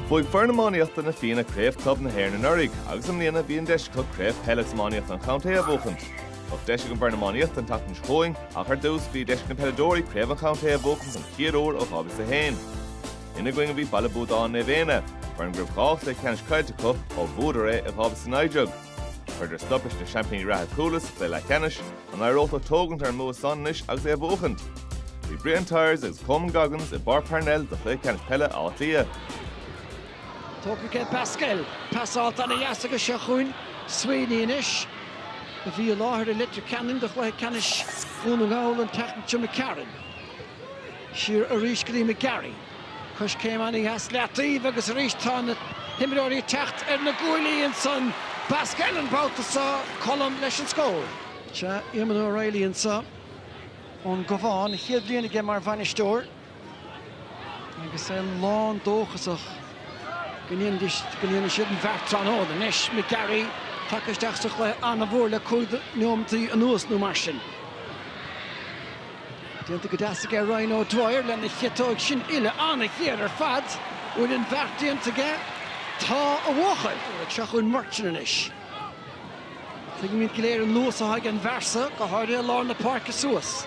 Bhuaigh foireann iománaíochta Na Fianna Craobh Club na hÉireann anuraidh agus i mbliana bhí an deis acu Craobh Peile is Iománaíochta an Chontae a bhuachan. Bheadh deis ag an bhfoireann iománaíochta an tseachtain seo chugainn ach ar dtús bhí deis ag na peileadóirí Craobh an Chontae a bhuachan den chéad uair ó 2001. Ina gcoinne a bhí Baile Buadáin Naomh Éanna, foireann go raibh dhá chluiche ceannais caillte acu ó bhuadar é i 2019. Chuireadar stop leis na seaimpíní reatha Cuala sa chluiche leathcheannais, an éireodh leo tógaint ar an mbua san anois agus é a bhuachaint. Bhí Brian Tyers agus Coman Goggins i bPáirc Parnell do chluiche ceannais peile Átha Cliath. Tógtha ag Basquel. Pasáil ana dheas aige seo chugainn Sweeney anois, a bhí i láthair i Leitir Ceanainn do chluiche ceannais Dhún na nGall an tseachtain seo caite. McCarron siar arís go dtí McGarry. Coiscéim ana dheas i leataobh agus arís tá na himreoirí ag teacht ar na guaillí ansan. Basquel an babhta seo, Colm leis an scór. Sea, Eamonn O'Reilly anso ón gCabhán, chéad bhliain aige mar bhainisteoir agus é lán dóchasach go ndéanfaidh siad an bheart tráthnóna. Anois McGarry tagtha isteach sa chluiche an-mhór le cúig nóimintí anuas nó mar sin. Déanta go deas aige Ryan O'Dwyer lena chiotóig sin uille an-ghéar ar fad. Bhfuil an bheart déanta aige? Tá, a bhuachaill! Seo chugainn Murchan anois. Tuigimid go léir an luas atá ag an bhfear seo, go háirithe i lár na páirce suas.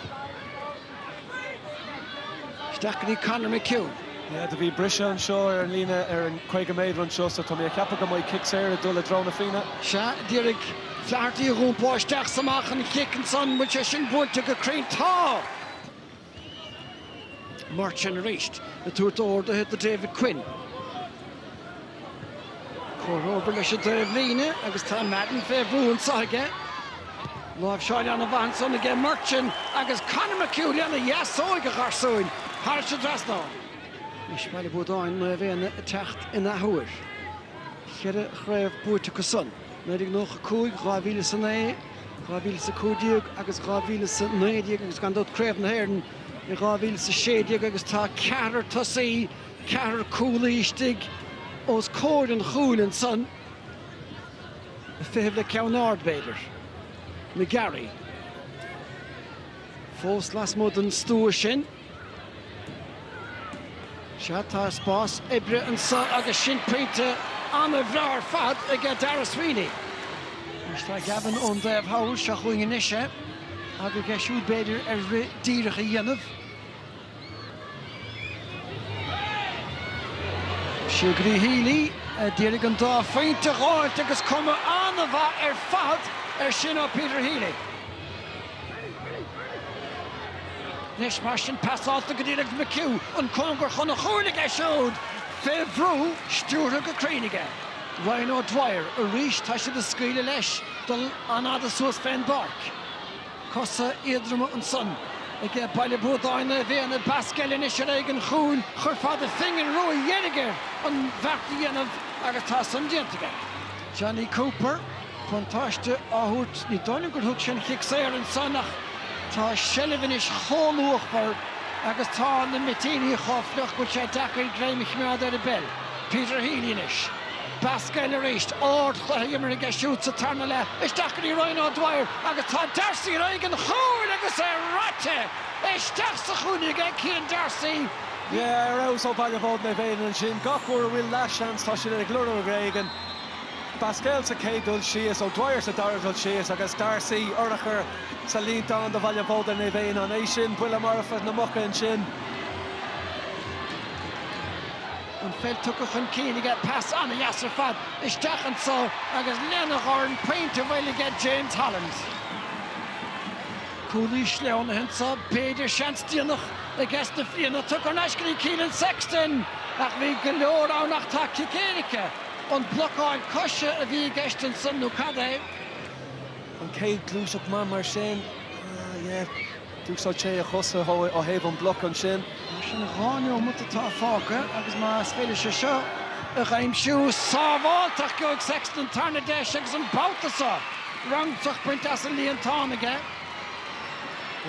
Isteach go dtí Conor McHugh. Yeah, do bhí briseadh anseo ar an líne ar an 50 méadar anseo so tá mé a' ceapadh go mbeidh cic saor ag dul i dtreo Na Fianna. Sea, dhírigh Flaherty a dhúmpáil isteach 's amach an chic ansan, bhfuil sé sin buailte go cruinn? Tá! Murchan arís ag tabhairt orduithe do David Quinn. Comhthreomhar leis an taobhlíne agus tá Madden fé bhrú anseo aige. Láimhseáil an-mhaith ansan aige Murchan agus Conor McHugh lena dheasóig, a gharsúin, thairis an trasnán. Anois Baile Buadáin Naomh Éanna ag teacht an athuair. Cheithre chraobh buaite acu san, 1995, 2000 is a naoi, 2000 is a cúig déag agus 2000 is a naoi déag agus gan dabht Craobh na hÉireann i 2000 is a sé déag agus tá ceathrar tosaí Ceathrar cúlaí istigh os comhair an chúil ansan. Ag feitheamh le ceann ard, b'fhéidir. McGarry. Fós lasmuigh den stua sin. Sea, tá spás oibre anso agus sin pointe an-bhreá ar fad ag Daire Sweeney. Anois tá Gavin ón dtaobh thall, seo chugainn anois é, aga aige siúd b'fhéidir ar rith díreach a dhéanamh. Siúd go dtí Healy, a d'iarraidh an dá phointe a dh'fháilt agus cuma an-mhaith ar fad ar sin ó Peter Healy. Anois mar sin, pas fálta go díreach ag McHugh, an cóngar chun an chúil aige siúd fé bhrú, stiúrtha go cruinn aige. Ryan O'Dwyer, arís, tá siad a' scaoileadh leis dul an-fhada suas fén bpáirc. Cosa éadroma ansan ag Baile Buadáin Naomh Éanna, Basquel anois ar aghaidh an chúil. Chuirfeá do phingin rua dheiridh air an bheart a dhéanamh agus tá san déanta aige. Jonny Cooper, buntáiste á thabhairt, ní dóigh liom gur thug sé an cic saor ansan ach tá seilbh anois chomh luachmhar agus tá na mitíní chomh fliuch go bhfuil sé deacair greim a chimeád ar an bpeil. Peter Healy anois. Basquel arís ardchluiche imeartha aige siúd sa tarna leath isteach go dtí Ryan O'Dwyer agus tá Darcy ar aghaidh an chúil agus é raite! Isteach sa chúinne aige Cian Darcy. Yeah, ar fheabhas ó Bhaile Buadáin Naomh Éanna ansin. Gach uair a bhfuil leath seans tá siad ag lorg rud éigin. Basquel sa chéad dul síos, O'Dwyer sa dara dul síos agus Darcy urchar sa líontán do Bhaile Buadáin Naomh Éanna. An é sin buille marfa na muca ansin? An pheil tugtha chun cinn aige, pas an-deas ar fad isteach anso agus lena dhorn pointe á bhualadh aige James Holland. Cúlaí sleamhnaithe anso, b'fhéidir seans déanach aiges na Fianna, tugtha thar n-ais go dtí Keelan Sexton ach bhí go leor ann ach tá cic éirice. An blocáil coise a bhí i gceist ansan nó cad é? An chéad ghluaiseacht maith mar sin. D'úsáid sé a chosa ó thaobh an bloc ansin. Mar sin, dhá neomat atá fágtha agus más féidir leis é seo a aimsiú, sábháilte ach gheobhaidh Sexton an tarna deis agus an babhta seo, roghntach bainte as an líontán aige.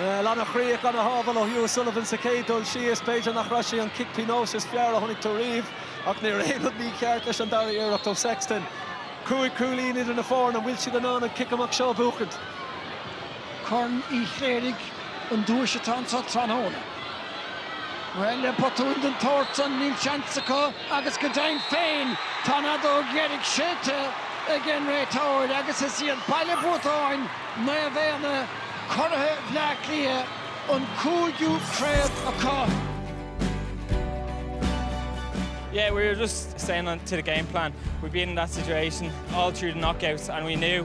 An-chríoch, an-shábháil ó Hugh O'Sullivan sa chéad dul síos. B'fhéidir nach raibh sé an cic pionóis is fearr a chonaic tú riamh, ach ní raibh aon rud mícheart leis an dara iarracht ó Sexton. Cúig chúilín idir na foirne, an bhfuil siad in ann an cic amach seo a bhuachaint? Corn Uí Chléirigh an duais atá anseo tráthnóna. Bhuel, le botúin den tsórt san, níl seans acu agus go deimhin féin, tá an fheadóg dheiridh séidte ag an réiteoir agus is iad Baile Buadáin Naomh Éanna, curaithe Bhleá Cliath, an cúigiú craobh acu. Yeah, we were just staying on to the game plan. We'd been in that situation all through the knockouts and we knew.